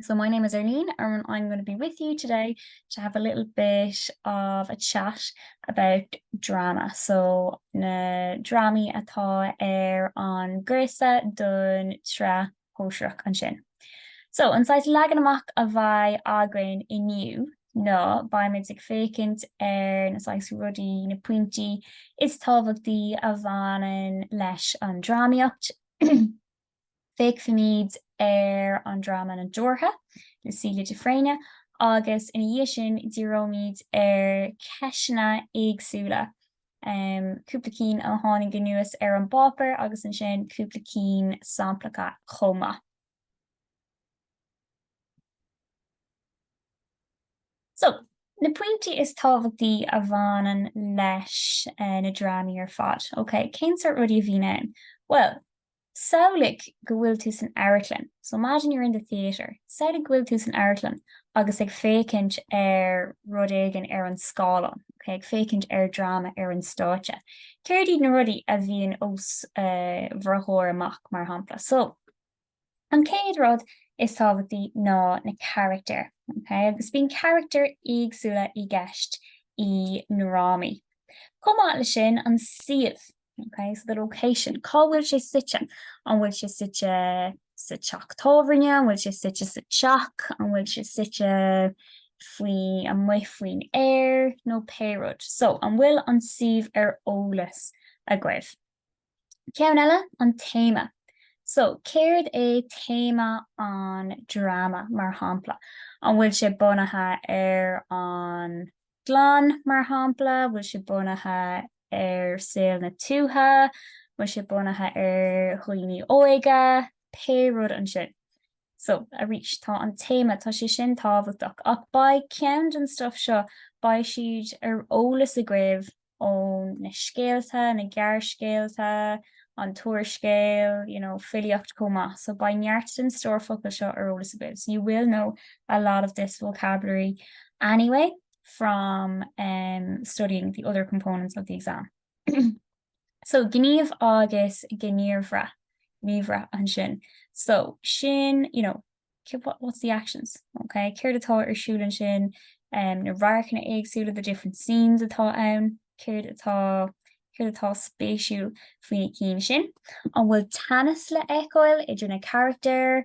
So my name is Arlene and I'm going to be with you today to have a little bit of a chat about drama. So na drámaí atá ar an gcúrsa don tSraith Shóisearach ansin. So an saghas leagan amach a bheidh againn inniu ná beimid ag féachaint ar na saghas rudaí, na pointí is tábhachtaí a bhaineann leis an drámaíocht, Féachfaimid ar an dráma Na Deoraithe le Celia de Fréine agus ina dhiaidh sin díreoimid ar cheisteanna éagsúla, cúpla cinn a tháinig anuas ar an bpáipéar agus ansin cúpla cinn samplacha chomh maith. So, na pointí is tábhachtaí a bhaineann leis na drámaí ar fad. OK, cén sort rudaí a bhíonn ann? Bhuel, Samhlaigh go bhfuil tú san amharclann, so imagine you're in the theatre. Samhlaigh go bhfuil tú san amharclann agus ag féachaint ar rud éigin ar an scáileán, okay? ag féachaint ar dráma ar an stáitse. Céard iad na rudaí a bhíonn os bhur gcomhair amach, mar shampla? So, an chéad rud is tábhachtaí ná na carachtair, okay? Agus bíonn carachtair éagsúla i gceist i ndrámaí. Chomh maith leis sin, an suíomh. Ok, so the location, cá bhfuil sé suite? An bhfuil sé suite sa teach tábhairne? An bhfuil sé suite sa teach? An bhfuil sé suite faoi, amuigh faoin aer? Nó pé rud. So, an bhfuil an suíomh ar eolas agaibh? Ceann eile, an téama. So, céard é téama an dráma, mar shampla? An bhfuil sé bunaithe ar an gclann, mar shampla, bhfuil sé bunaithe ar saol na tuaithe, bhfuil sé bunaithe ar dhaoine óga, pé rud ansin. So, arís, tá an téama, tá sé sin tábhachtach, ach beidh ceann den stuff seo, beidh siad ar eolas agaibh ó na scéalta, na gearrscéalta, an t-úrscéal, you know, filíocht chomh maith. So beidh neart den stór focal seo ar eolas agaibh. So you will know a lot of this vocabulary anyway from um, studying the other components of the exam. so gníomh agus gníomhra, gníomhra ansin. So sin, you know, what's the actions? ok, céard atá ar siúl ansin? em, na radharcanna éagsúla, the different scenes atá ann, céard atá, céard atá spéisiúil faoi na cinn sin? An bhfuil teannas le fheiceáil idir na carachtair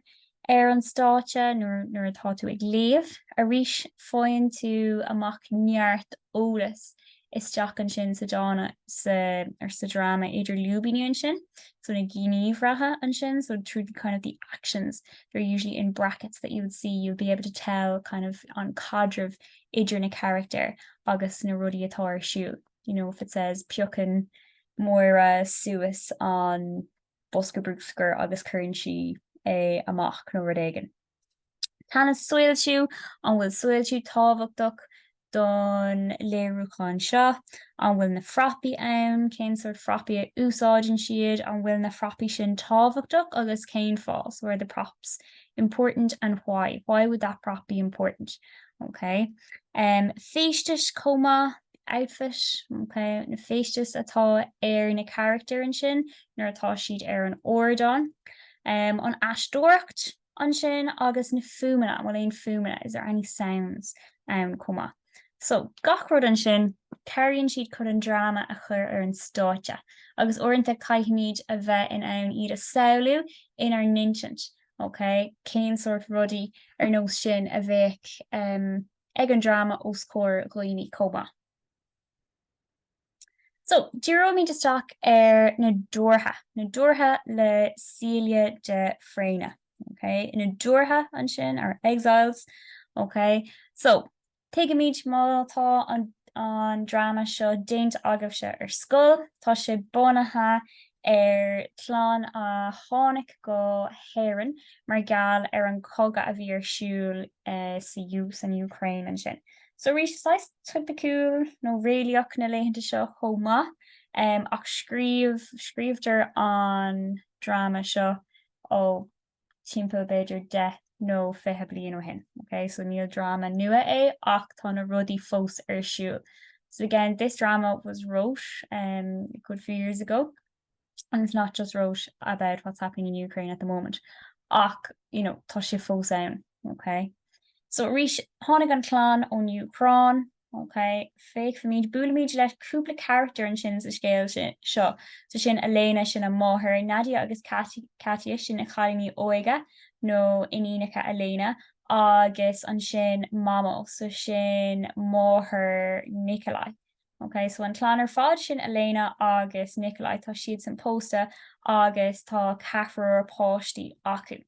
ar an stáitse nuair, nuair atá tú ag léamh? Arís faigheann tú amach neart eolas isteach ansin sa dráma, so, ar, sa dráma idir lúibíní ansin, so na gníomhartha ansin, so through the kind of the actions, they're usually in brackets that you would see, you'll be able to tell kind of an caidreamh idir na carachtair agus na rudaí atá ar siúl. You know, if it says piocann Máire suas an bosca brúscair agus cuireann sí é amach nó rud éigin. Teannas, soilsiú, an bhfuil soilsiú tábhachtach don léiriúchán seo? An bhfuil na frapaí ann? Cén sort frapaí a úsáideann siad? An bhfuil na frapaí sin tábhachtach agus cén fáth? So are the props important and why? Why would that prop be important? Okay. Feisteas chomh maith. outfit, ok, na feisteas atá ar na carachtair ansin nuair atá siad ar an ardán. An aisteoireacht ansin agus na fuaimeanna, an bhfuil aon fuaimeanna, is there any sounds, ann chomh maith. So, gach rud ansin, cabhraíonn siad chun an dráma a chur ar an stáitse agus uaireanta caithfimid a bheith in ann iad a samhlú inár n-intinn, ok, cén sórt rudaí ar nós sin a bheadh. ag an dráma os comhair daoine chomh maith. So, díreoimid isteach ar na deoraithe, na deoraithe le Celia de Fréine. Ok, na deoraithe ansin, or exiles. Ok, so, tuigimid má tá an dráma seo déanta agaibhse ar scoil, tá sé bunaithe ar chlann a tháinig go hÉirinn mar gheall ar an cogadh a bhí ar siúl sa san Úcráin ansin. So arís, saghas topaiciúil nó réalaíoch na laethanta seo chomh maith, ach scríobh, scríobhtar an dráma seo ó timpeall b'fhéidir 10 nó 20 bliain ó shin, ok, so níl dráma nua é ach tá na rudaí fós ar siúl. So again, this drama was wrote um a good few years ago and it's not just wrote about what's happening in Ukraine at the moment ach, you know, tá sé fós ann, ok. So arís, tháinig an chlann ón Úcráin, Ok, féachfaimid, buailimid le cúpla carachtar ansin sa scéal seo. So sin Elena, sin an mháthair, Nadia agus Katya, sin na cailíní óige, nó iníonacha Elena, agus ansin Mamo, so sin máthair Nikolai. Ok, so an chlann ar fad, sin Elena agus Nikolai, tá siadsan pósta agus tá ceathrar páistí acu.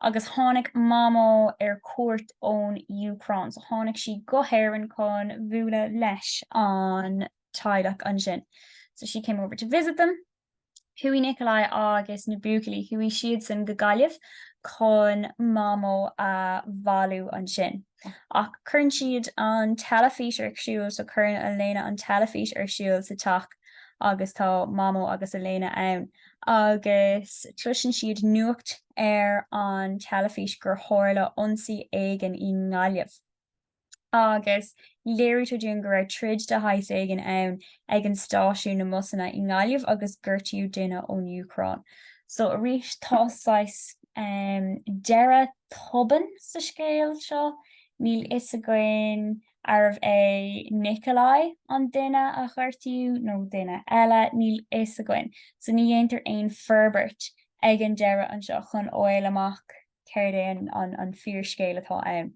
agus tháinig Mamó ar cuairt ón Úcráin. So tháinig sí go hÉirinn chun bhualadh leis an teaghlach ansin. So she came over to visit them. Chuaigh Nikolai agus na buachaillí, chuaigh siadsan go Gaillimh chun Mamó a bhailiú ansin. Ach cuireann siad an teilifís ar siúl, so cuireann Elena an teilifís ar siúl sa teach agus tá Mamó agus Elena ann. agus cloiseann siad nuacht ar an teilifís gur tharla ionsaí éigin i nGaillimh, agus léirítear dúinn go raibh troid de shaghas éigin ann ag an stáisiún na mbusanna i nGaillimh agus gortaíodh duine ón Úcráin. So arís tá saghas deireadh tobann sa scéal seo, níl fhios againn arbh é Nikolai an duine a gortaíodh nó duine eile, níl fhios againn, so ní dhéantar aon forbairt ag an deireadh anseo chun fháil amach céard é an fíorscéal atá ann.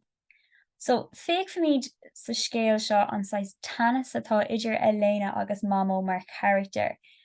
So, féachfaimid sa scéal seo an saghas teannas atá idir Elena agus Mamó mar charachtair,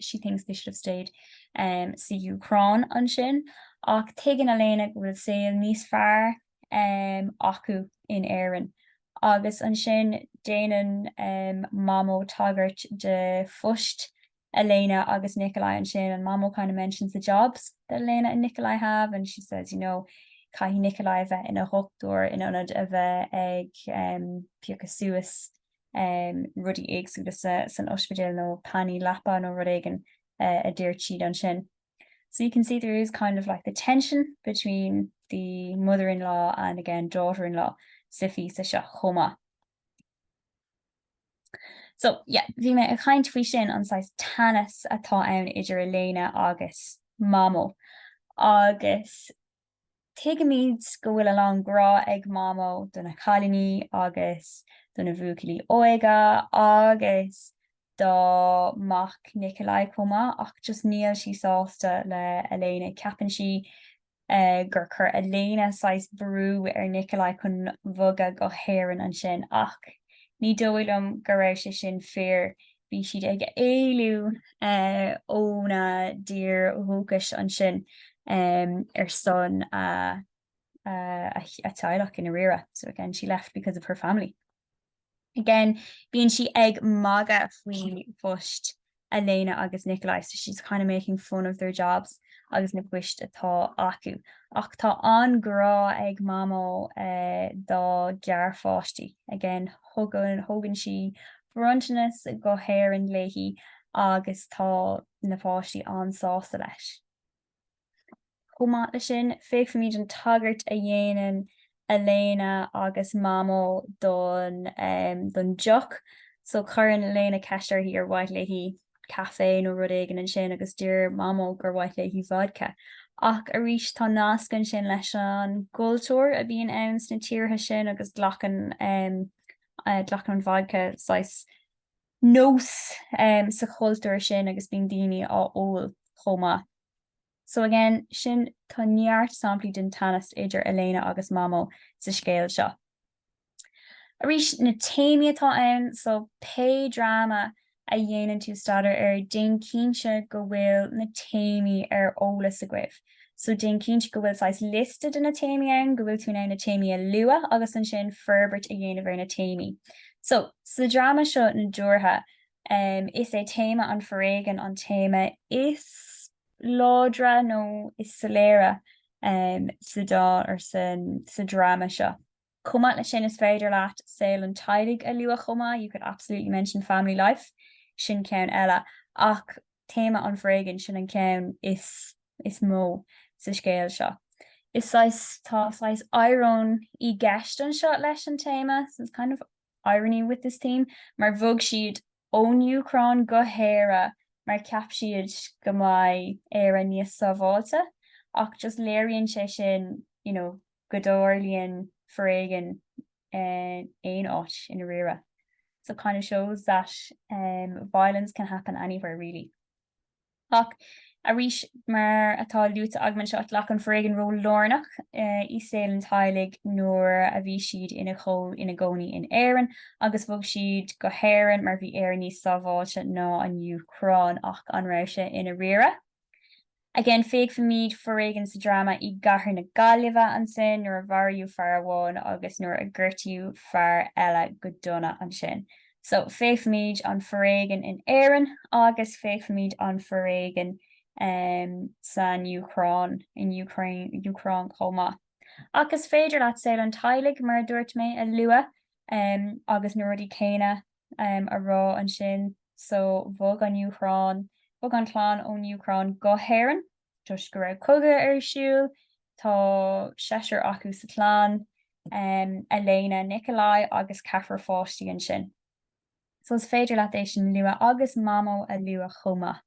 she thinks they should have stayed san Úcráin ansin, ach tuigeann Elena go bhfuil saol níos fearr acu in Éirinn, agus ansin déanann Mamó tagairt do phost Elena agus Nikolai ansin, and Mamó kind of mentions the jobs that Elena and Nikolai have, and she says, you know, caithfidh Nikolai a bheith ina dhochtúir in ionad a bheith ag piocadh suas rudaí éagsúla san ospidéal nó pannaí leapa nó rud éigin a deir siad ansin. So you can see there is kind of like the tension between the mother-in-law and again daughter-in-law sa phíosa seo chomh maith. So yeah, bhí mé ag caint faoi sin an saghas teannas atá ann idir Elena agus Mamó agus Tuigimid go bhfuil a lán grá ag Mamó do na cailíní agus do na bhuachaillí óige agus dá mac Nikolai chomh maith ach just níl sí sásta le Elena. Ceapann sí gur chuir Elena saghas brú ar Nikolai chun bhogadh go hÉirinn ansin ach ní dóigh liom go raibh sé sin fíor. Bhí siad ag éalú óna dtír dhúchais ansin ar son a teaghlach i ndáiríre. So again, she left because of her family. Again, bíonn sí ag magadh faoi phost Elena agus Nikolai, so she's kind of making fun of their jobs agus na poist atá acu. Ach tá an-ghrá ag Mamó dá gearrpháistí. Again, thugann sí bronntanas go hÉirinn léithi agus tá na páistí an-sásta leis. Chomh maith leis sin, féachfaimid an tagairt a dhéanann Elena agus Mamó don deoch. So cuireann Elena ceist uirthi ar mhaith léi caife nó rud éigin ansin agus deir Mamó gur mhaith léi vodca. Ach arís, tá nasc ansin leis an gcultúr a bhíonn ann sna tíortha sin agus glacann eh, glacann an vodca saghas nós um, sa chultúr sin agus bíonn daoine á ól chomh maith. So again, sin tá neart samplaí den teannas idir Elena agus Mamó sa scéal seo. Arís na téamaí atá ann, so pé dráma a dhéanann tú staidéar air, déan cinnte go bhfuil na téamaí ar eolas agaibh. So déan cinnte go bhfuil saghas liosta de na téamaí ann, go bhfuil tú in ann na téamaí a lua agus ansin forbairt a dhéanamh ar na téamaí. So sa dráma seo Na Dúrtha, is é téama an foréigean an téama is láidre nó is soiléire sa dá or sa dráma seo. Chomh maith leis sin, is féidir leat saol an teaghlaigh a lua chomh maith, you could absolutely mention family life, sin ceann eile. Ach téama an foréigin, sin an ceann is is mó sa scéal seo. Is saghas, tá saghas íoróin í gceist anseo leis an téama, so it's kind of irony with this theme, mar bhog siad ón Úcráin go hÉire mar ceap siad go mbeidh Éire níos sábháilte ach just léiríonn sé sin you know go dtarlaíonn foréigean aon áit i ndáiríre so kind of shows that violence can happen anywhere really. Ach arís, mar atá luaite agam anseo, ghlac an foréigean ról lárnach i saol an teaghlaigh nuair a bhí siad ina gcónaí in Éirinn agus bhog siad go hÉirinn mar bhí Éire níos sábháilte ná an Úcráin. Ach an raibh sé i ndáiríre? Again, féachfaimid foréigean sa dráma i gcathair na Gaillimhe ansin nuair a mharaíodh fear amháin agus nuair a gortaíodh fear eile go dona ansin. So, féachfaimid an foréigean in Éirinn agus féachfaimid an foréigean san Úcráin, in Ukraine, Úcráin chomh maith. Ach is féidir leat saol an teaghlaigh, mar a dúirt mé, a lua agus na rudaí céanna a rá ansin. So, bhog an Úcráin, bhog an chlann ón Úcráin go hÉirinn. toisc go raibh cogadh ar siúl. Tá seisear acu sa chlann, Elena, Nikolai agus ceathrar páistí ansin. So is féidir leat é sin a lua agus mamó a lua chomh maith.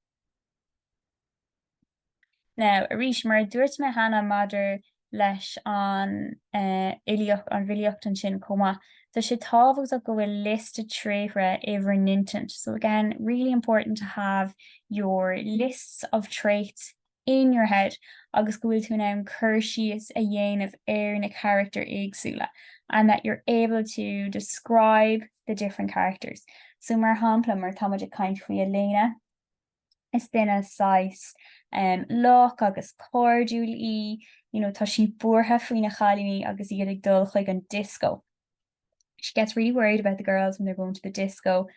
Now, arís, mar a dúirt mé cheana maidir leis an fhilíocht, an bhfilíocht ansin chomh maith. Tá sé tábhachtach go bhfuil liosta tréithre in bhur n-intinn. So again, really important to have your lists of traits in your head agus go bhfuil tú in ann cur síos a dhéanamh ar na carachtair éagsúla and that you're able to describe the different characters. So mar shampla, mar tá muid ag caint faoi Elena, is duine saghas lách agus cairdiúil í, you know tá sí buartha faoi na chailíní agus iad ag dul chuig an dioscó, she gets really worried about the girls when they're going to the disco,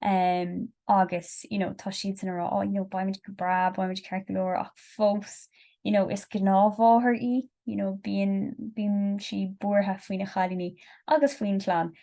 em agus you know tá siadsan a rá oh you know beimid go breá, beimid ceart go leor ach fós you know is gnáthmháthair í, you know bíonn, bíonn sí buartha faoi na chailíní agus faoin chlann.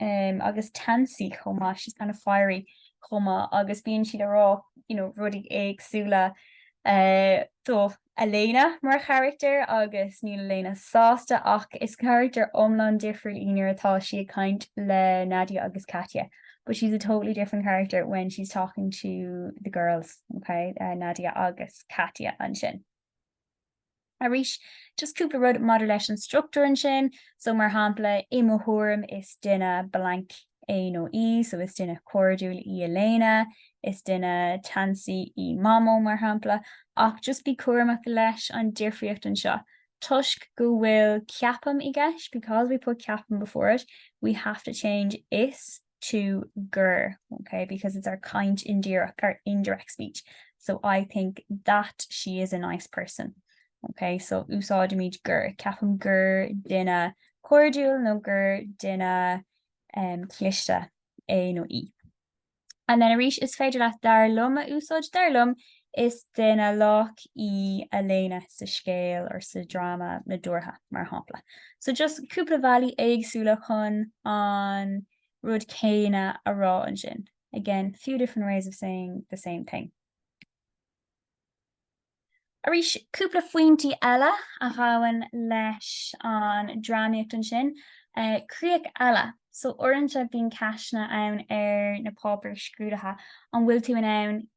agus teasaí chomh maith, she's kind of fiery chomh maith, agus bíonn siad ag rá you know rudaí éagsúla em do Elena mar character agus níl Elena sásta ach is character iomlán difriúil í nuair atá sí ag caint le Nadia agus Katya but she's a totally different character when she's talking to the girls, ok, Nadia agus Katya ansin. Arís, just cúpla rud maidir leis an struchtúr ansin, so mar shampla, i mo thuairim, is duine blank é nó í, so is duine cairdiúil í Elena, is duine teasaí í Mamó, mar shampla, ach just bí cúramach leis an difríocht anseo, toisc go bhfuil ceapaim i gceist, because we put ceapaim before it, we have to change is to gur, ok, because it's our caint indíreach, our indirect speech, so I think that she is a nice person. Ok, so úsáidimid gur, ceapaim gur duine cairdiúil nó gur duine um, cliste é nó í. And then arís is féidir leat dar liom a úsáid dar liom Is duine lách í Elena sa scéal or sa dráma nadúrtha, mar shampla. So just cúpla bhealaí éagsúla chun an rud céanna a rá ansin. Again, few different ways of saying the same thing. Arís, cúpla phointí eile a ghabhann leis an drámaíocht ansin. Críoch eile. So uaireanta bíonn ceisteanna ann ar na páipéir scrúdaithe, an bhfuil tú in ann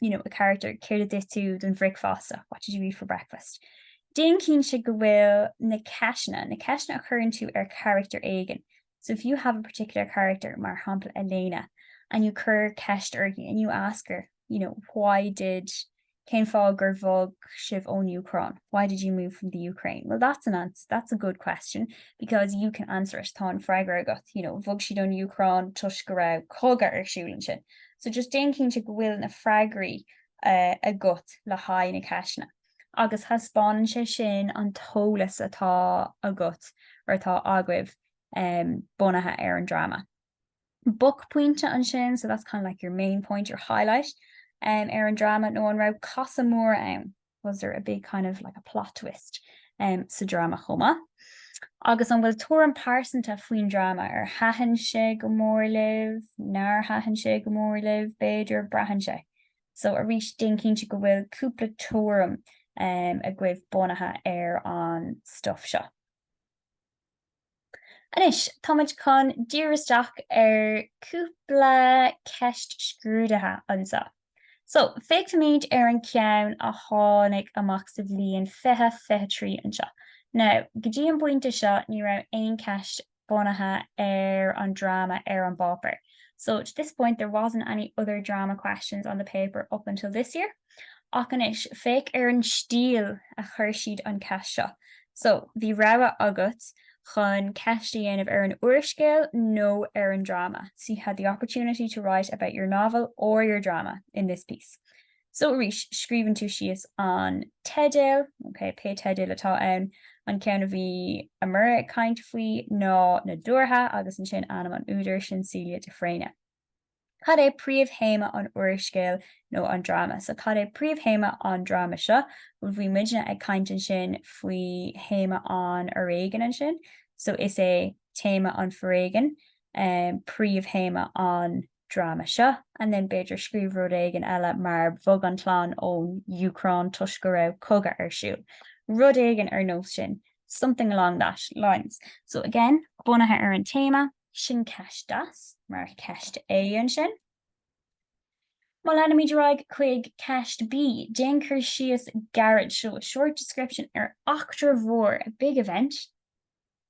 you know, a character, céard a d'ith tú don bhricfeasta, what did you eat for breakfast? Déan cinnte go bhfuil na ceisteanna, na ceisteanna a chuireann tú ar character éigin, so if you have a particular character, mar shampla Elena, and you cuir ceist uirthi and you ask her, you know, why did, cén fáth gur bhog sibh ón Úcráin, why did you move from the Ukraine? Well that's an ans- that's a good question because you can answer it, tá an freagra agat, you know, bhog siad ón Úcráin toisc go raibh cogadh ar siúl ansin. So just déan cinnte go bhfuil na freagraí agat le haghaidh na ceisteanna. Agus thaispeánann sé sin an t-eolas atá agat, or atá agaibh, bunaithe ar an drama. Buaicphointe ansin, so that's kind of like your main point, your highlight, ar an drama nó an raibh casadh mór ann? was there a big kind of like a plot twist um, sa dráma chomh maith? Agus an bhfuil tuairim pearsanta faoin dráma ar thaitin sé go mór libh, nár thaitin sé go mór libh, b'fhéidir braitheann sé. So arís déan cinnte go bhfuil cúpla tuairim um, agaibh bunaithe ar an stuff seo. Anois, táimid chun díriú isteach ar cúpla ceist scrúdaithe anseo. So, féachfaimid ar an ceann a tháinig amach sa bhliain 2023 anseo. Now, go dtí an bpointe seo, ní raibh aon cheist bunaithe ar an dráma ar an bpáipéar. So, to this point, there wasn't any other drama questions on the paper up until this year. Ach anois, féach ar an stíl a chuir siad an cheist seo. So, bhí rogha agat chun ceist a dhéanamh ar an úrscéal nó ar an dráma, so you had the opportunity to write about your novel or your drama in this piece. So, arís, scríobhann tú síos an teideal, ok, pé teideal atá ann, an ceann a bhí Amora ag caint faoi ná Nadúrtha agus ansin ainm an údair, sin Celia de Fréine. Cad é príomhthéama an úrscéil nó an dráma? So cad é príomhthéama an dráma seo? Bhuel, bhí muidne ag caint ansin faoi théama an fhoréigin ansin. So is é téama an foréigin príomhthéama an dráma seo. And then b'fhéidir scríobh rud éigin eile mar bhog an chlann ón Úcráin toisc go raibh cogadh ar siúl. Rud éigin ar nós sin. Something along that lines. So again, bunaithe ar an téama. Sin ceist deas, mar cheist A ansin. Má leanaimid ar aghaidh chuig ceist B, déan cur síos gairid, so a short description, ar eachtra mhór, a big event,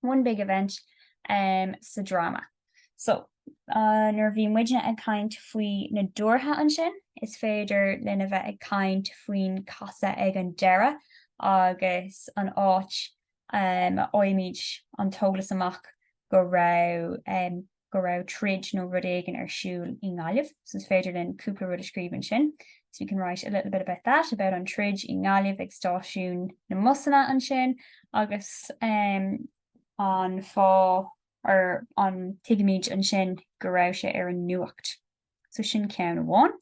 one big event, sa dráma. So, nuair a bhí muidne ag caint faoi nadúrtha ansin, is féidir linn a bheith ag caint faoin casadh ag an deireadh agus an áit a fhaighimid an t-eolas amach go raibh, go raibh troid nó rud éigin ar siúl i nGaillimh. So is féidir linn cúpla rud a scríobh ansin. So we can write a little bit about that, about an troid i nGaillimh ag stáisiún na mbusanna ansin agus an fáth or an, tuigimid ansin go raibh sé ar an nuacht. So sin ceann amháin.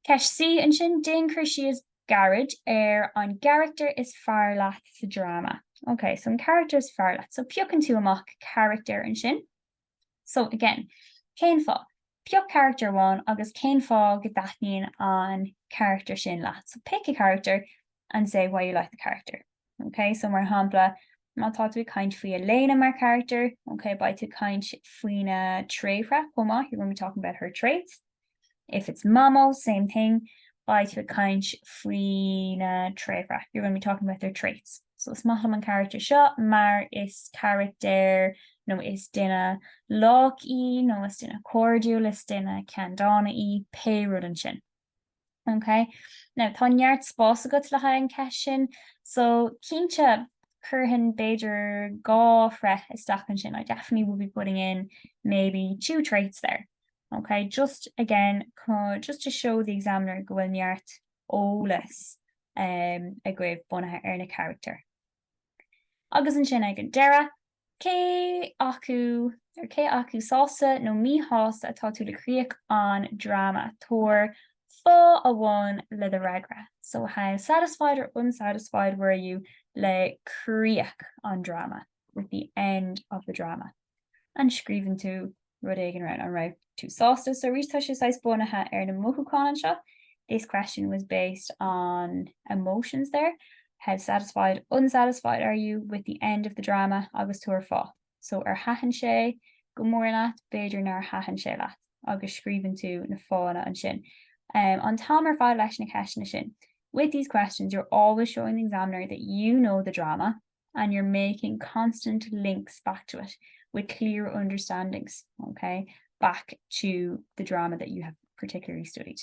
Ceist C, ansin, déan cur síos gairid ar an gcarachtar is fearr leat sa dráma. Ok, so an carachtar is fearr leat. So piocann tú amach carachtar ansin. So again, cén fáth? Pioc carachtar amháin agus cén fáth go dtaitníonn an carachtar sin leat. So pick a character and say why you like the character. OK, so mar shampla, má tá tú ag caint faoi Elena mar carachtar, OK, beidh tú ag caint faoina tréithre chomh maith, you're going to be talking about her traits. If it's Mamó, same thing, beidh tú ag caint faoina tréithre, you're going to be talking about their traits. So is maith liom an carachtar seo mar is carachtar nó is duine lách í nó is duine cairdiúil, is duine ceanndána í, pé rud ansin. OK. Now, tá neart spás agat le haghaidh an ceist sin. So, cinnte, chuirfinn b'fhéidir dhá thréith isteach ansin. I definitely would be putting in maybe two traits there. OK, just again, just to show the examiner go bhfuil neart eolas um, agaibh bunaithe ar na carachtair. Agus ansin ag an deireadh, cé acu, or cé acu sásta nó míshásta atá tú le críoch an dráma, tabhair fáth amháin le do fhreagra. So how satisfied or unsatisfied were you le críoch an dráma, with the end of the drama? And scríobhann tú rud éigin ar An raibh tú sásta So arís Tá sé saghas bunaithe ar na mothúcháin anseo This question was based on emotions there How satisfied, unsatisfied are you with the end of the drama agus tabhair fáth So ar thaitin sé go mór leat, b'fhéidir nár thaitin sé leat agus scríobhann tú na fáthanna ansin. Um, an t-am ar fad leis na ceisteanna sin With these questions, you're always showing the examiner that you know the drama and you're making constant links back to it with clear understandings, ok, back to the drama that you have particularly studied.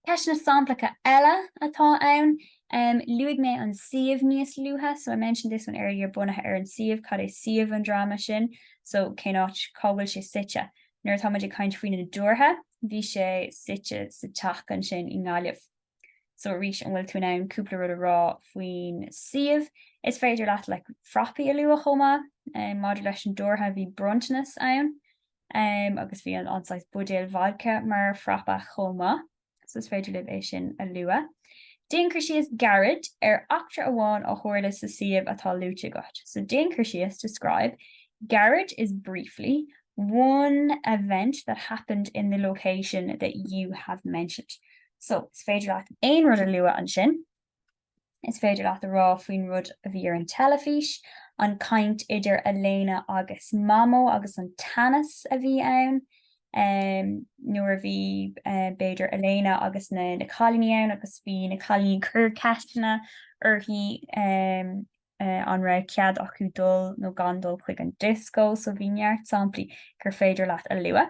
Ceisteanna samplacha eile atá ann, em, luaigh mé an suíomh níos luaithe, so I mentioned this one earlier, bunaithe ar an suíomh, cad é suíomh an dráma sin, so cén áit, cá bhfuil sé suite. Nuair atá muid ag caint faoi Na Deoraithe, bhí sé suite sa teach ansin i nGaillimh. So arís, an bhfuil tú in ann cúpla rud a rá faoin suíomh? Is féidir leat like frapaí a lua chomh maith. Maidir leis an Deoraithe bhí bronntanas ann agus bhí an saghas buidéal vodca mar frapa chomh maith. So is féidir libh é sin a lua. Déan cur síos gairid ar eachtra amháin a tharla sa suíomh atá luaite agat. So déan cur síos, describe, gairid is briefly, one event that happened in the location that you have mentioned. So, is féidir leat aon rud a lua ansin. Is féidir leat a rá faoin rud a bhí ar an teilifís, an caint idir Elena agus Mamó agus an teannas a bhí ann em nuair a bhí em b'fhéidir Elena agus na na cailíní ann agus bhí na cailíní ag cur ceisteanna uirthi em eh an raibh cead acu dul nó gan dul chuig an disco so bhí neart samplaí gur féidir leat a lua.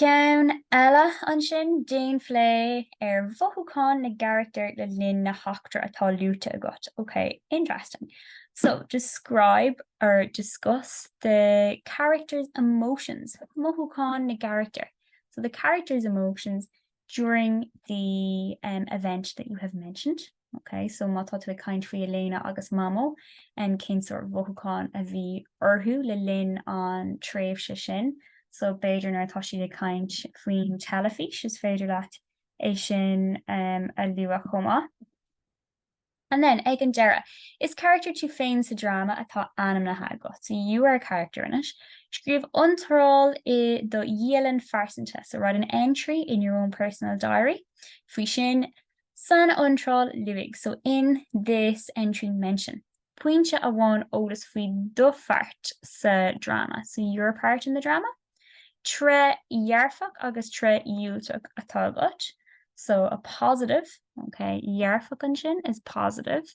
Ceann eile ansin, déan plé ar mhothúcháin na gcarachtar le linn na heachtra atá luaite agat. OK, interesting. So, describe or discuss the characters' emotions, mothúcháin na gcarachtar, so the characters' emotions during the event that you have mentioned. Ok, so má tá tú ag caint faoi Elena agus Mamó, em cén sórt mhothúcháin a bhí orthu le linn an tréimhse sin? So b'fhéidir nuair atá siad ag caint faoin teilifís, is féidir leat é sin em a lua chomh maith. And then, ag an deireadh, is carachtar tú féin sa dráma atá ainmnithe agat. So you are a character in it. Scríobh iontráil i do dhialann phearsanta, so write an entry in your own personal diary, faoi sin. San iontráil luaigh, so in this entry mention, pointe amháin eolas faoi do pháirt sa dráma, so your part in the drama. Tréith dhearfach agus tréith dhiúltach atá agat, so a positive, okay, dhearfach ansin is positive.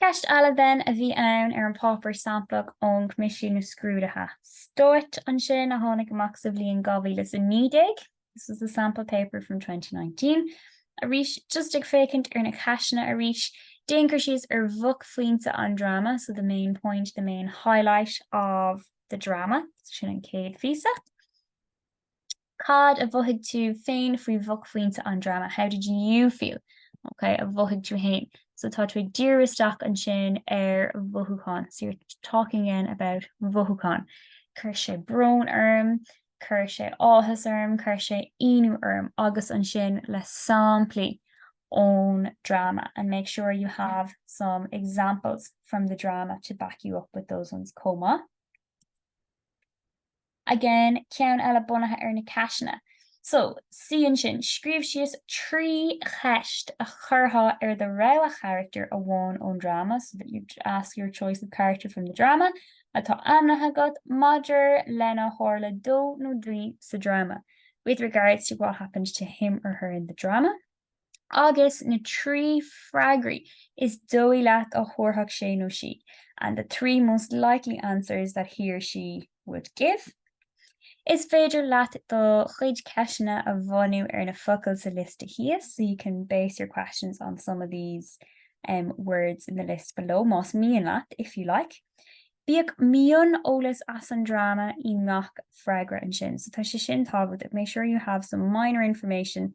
Ceist eile then a bhí ann ar an páipéar samplach ón Coimisiún Scrúdaithe Stáit ansin a tháinig amach sa bhliain 2019, This was the sample paper from 2019. Arís, just ag féachaint ar na ceisteanna arís, déan cur síos ar bhuaicphointe an dráma, so the main point, the main highlight of the drama. So sin an céad phíosa. Cad a mhothaigh tú féin faoi bhuaicphointe an dráma? How did you feel? OK, a mhothaigh tú féin. So tá tú ag díriú isteach ansin ar mhothúcháin. So you're talking again about mhothúcháin. Cuir sé brón orm, cuir sé áthas orm, cuir sé ionadh orm agus ansin le samplaí ón dráma and make sure you have some examples from the drama to back you up with those ones chomh maith. again, ceann eile bunaithe ar na ceisteanna. So, see ansin, scríobh síos trí cheist a chuirfeá ar do rogha carachtar amháin ón dráma, so that you'd ask your choice of character from the drama, atá ainmnithe agat, maidir lena tharla dó nó di sa dráma, with regards to what happened to him or her in the drama. agus na trí freagraí is dóigh leat a thabharfadh sé nó sí, and the three most likely answers that he or she would give. Is féidir leat do chuid ceisteanna a bhunú ar na focail sa liosta thíos, so you can base your questions on some of these words in the list below, más mian leat, if you like. Bíodh mion-eolas as an dráma i ngach freagra ansin, so tá sé sin tábhachtach, make sure you have some minor information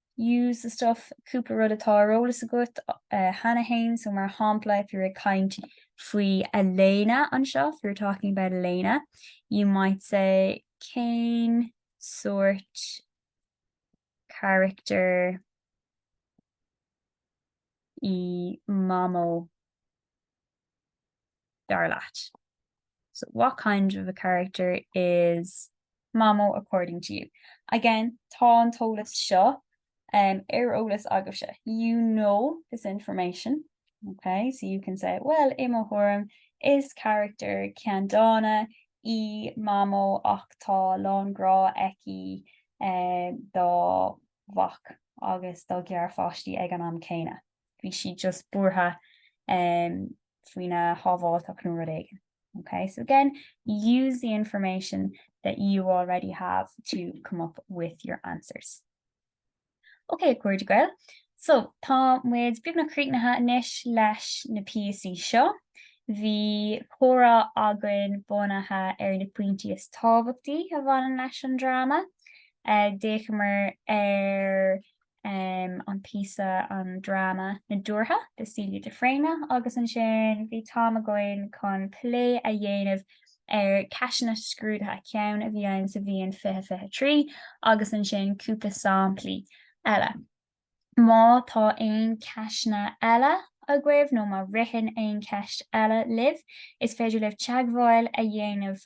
use the stuff cúpla rud atá ar eolas agat cheana féin so mar shampla if you're ag caint faoi Elena anseo if you're talking about Elena you might say cén sort character i mamó dar leat? So, what kind of a character is Mamó according to you? Again, tá an t-eolas seo um, ar eolas agaibhse. You know this information. Okay, so you can say, well, i mo thuairim, is character ceanndána í mamó ach tá a lán grá aici um, dá mhac agus dá garpháistí ag an am céanna. bhí siad just buartha um faoina shábháilteacht nó rud éigin. Ok, so again, use the information that you already have to come up with your answers. Ok, a chairde Gael, so tá muid beagnach críochnaithe anois leis na píosaí seo. Bhí comhrá againn bunaithe ar na pointí is tábhachtaí a bhaineann leis an dráma. D'fhéachamar ar an píosa, an dráma Nádúrtha de Celia de Fréine agus ansin bhí an t-am againn chun plé a dhéanamh ar cheisteanna scrúdaithe ceann a bhí ann sa bhliain 2023 agus ansin cúpla samplaí eile. Má tá aon cheisteanna eile agaibh nó má ritheann aon cheist eile libh, is féidir libh teagmháil a dhéanamh